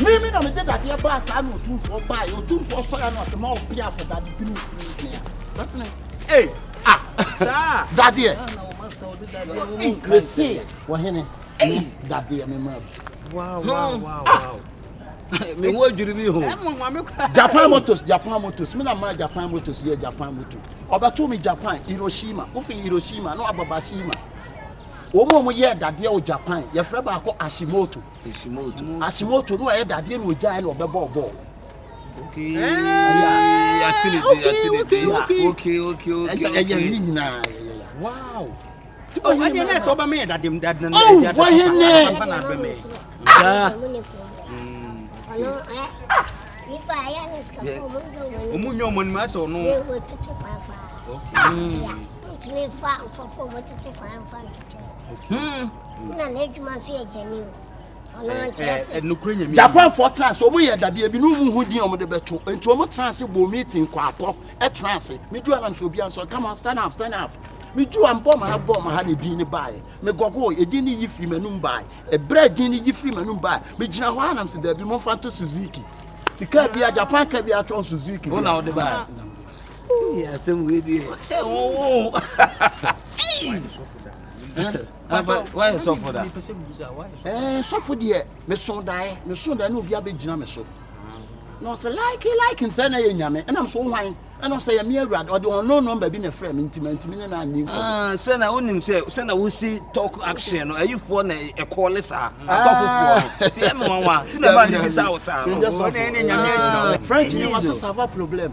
Me me na mede dadeɛ baa saa na otumfoɔ baeɛ otumfoɔ sɔre ano ase ma ɔbea afɔ dade bi ne kuru bea bɛsene ee ah saa dadeɛ mese wɔhene ee dadeɛ me maa bi wow wow wow wow me wo adwiri bi ho japan motors japan motors me na maa japan motors yɛ japan motor ɔbɛto me japan hiroshima wofiri hiroshima na wababashima wɔn a wɔyɛ dadeɛ wɔ japan yɛfrɛ baako ashimoto Asimoto no ayɛ dadeɛ na ogyae na ɔbɛbɔɔ bɔɔl. Ɛyɛ ne nyinaa ɔne na ɛsɛ ɔbɛma yɛ dadem dadem wɔhene ɔmu nyɛ ɔmɔ nim asɛ ɔno ntumi mfa nkurɔfoɔ wɔtoto kwan mfa ntoto na n'adwuma nso yɛ gyanim japanfoɔ tena ase wɔn yɛ dadeɛ bi ne wɔn ho din wɔn de bɛto nti wɔn tena ase bɔ meeting kɔ akɔ ɛtena ase me ju anam so obi asɔ come on stand up stand up me ju anbɔ ma ha bɔ ma ha ne din ne baaɛ me gɔgɔ edin ne yi firi m'anum baaɛ ebrɛ edin ne yi firi m'anum baaɛ me gyina hɔ anam so dɛbi mo nfa to suzuki ti kaa bi a japan kaa bi atwɔn suzuki bi a asɛm wei deɛ woayɛ sɔfo da eh, sɔfo deɛ meso daeɛ meso daeɛ na obi abɛgyina me so na ɔsɛ like like nsɛ na yɛ nyame ɛnam so hwan ɛna ɔsɛ yɛ me awurade ɔde ɔno nɔmba bi na ɛfrɛ me ntimi ntimi ne na anni nkɔ sɛ na wonim sɛ sɛ na wosi talk action no ayifoɔ na ɛkɔɔ ne saa asɔfofoɔ no nti yɛ me nwanwa nti na ɛba ne bisa wo saa no french ne wɔse sava problem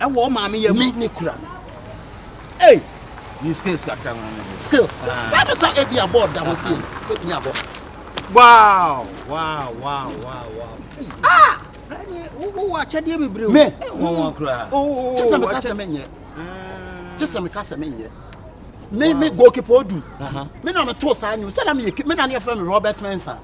ɛwɔ maame yɛ mu. ne kura no. Hey. Yi skills kakra ma ne. Skills. Kato sa ebi abɔ da ho sei. Betumi abɔ. Wow, wow, wow, wow, wow. Ah! Wo akyɛdeɛ bebree. Me. Wɔn wɔn kura. Oh, kyesa mi kasa mi nyɛ. Kyesa mi kasa mi nyɛ. Me me goalkeeper odu. Me na me to saa nyom. Sɛ na me yɛ me na ne yɛ fɛ me Robert Mensah.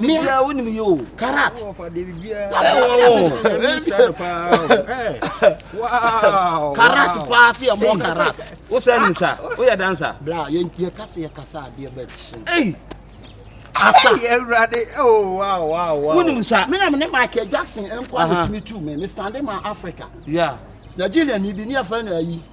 mea karat karat paa sɛ yɛmmɔ karat wosɛ nim sa woyɛ dansa bla yɛka sɛ yɛkasa adeɛ bɛkye asa wonim sa menam ne michael jackson nkɔ a metumi tu me mestande ma africa nigeriani bi ne afɛ no ayi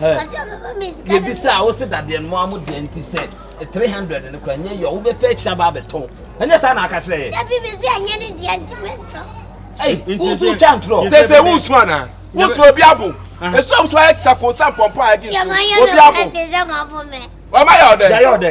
yɛbisa a wo se dadeɛ no moa mo deɛ nti sɛ 300 no kora nyɛ yɔ wobɛfɛ akyiri aba abɛtɔn ɛnyɛ saa na aka kyerɛ yɛ dabi me sɛ ɛnyɛ ne deɛ nti mentɔ ei woso twa ntorɔ sɛ sɛ wosu anaa wosu obi abo ɛsu a wosu ayɛ kyɛ ko sɛ mpɔmpɔ a ɛde nsu obi abo ɔma yɛ ɔdɛ yɛ ɔdɛ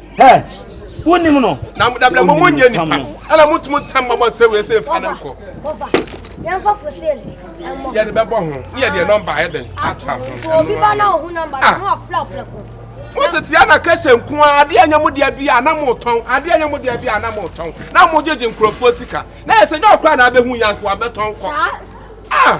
Hɛ! Wonnim no. Na mo dabila mo mo nyɛ nipa. Ɛna mo tum tam ma bɔ se we se fa ne nkɔ. Bɔfa. Yɛn fa fosel. Ɛmɔ. Yɛ de bɛ bɔ ho. Ne yɛ de nɔmba ayɛ den. Ata ho. So obi ba na ohu nɔmba na ho afla afla ko. Mo tete ana kɛsɛ nko a ade anya mo de abi a na mo tɔn. Ade anya mo de abi a na mo tɔn. Na mo gyegye nkurɔfoɔ sika. Na yɛ sɛ nyɛ ɔkora na abɛhu yanko abɛtɔn kɔ. Saa. Ah.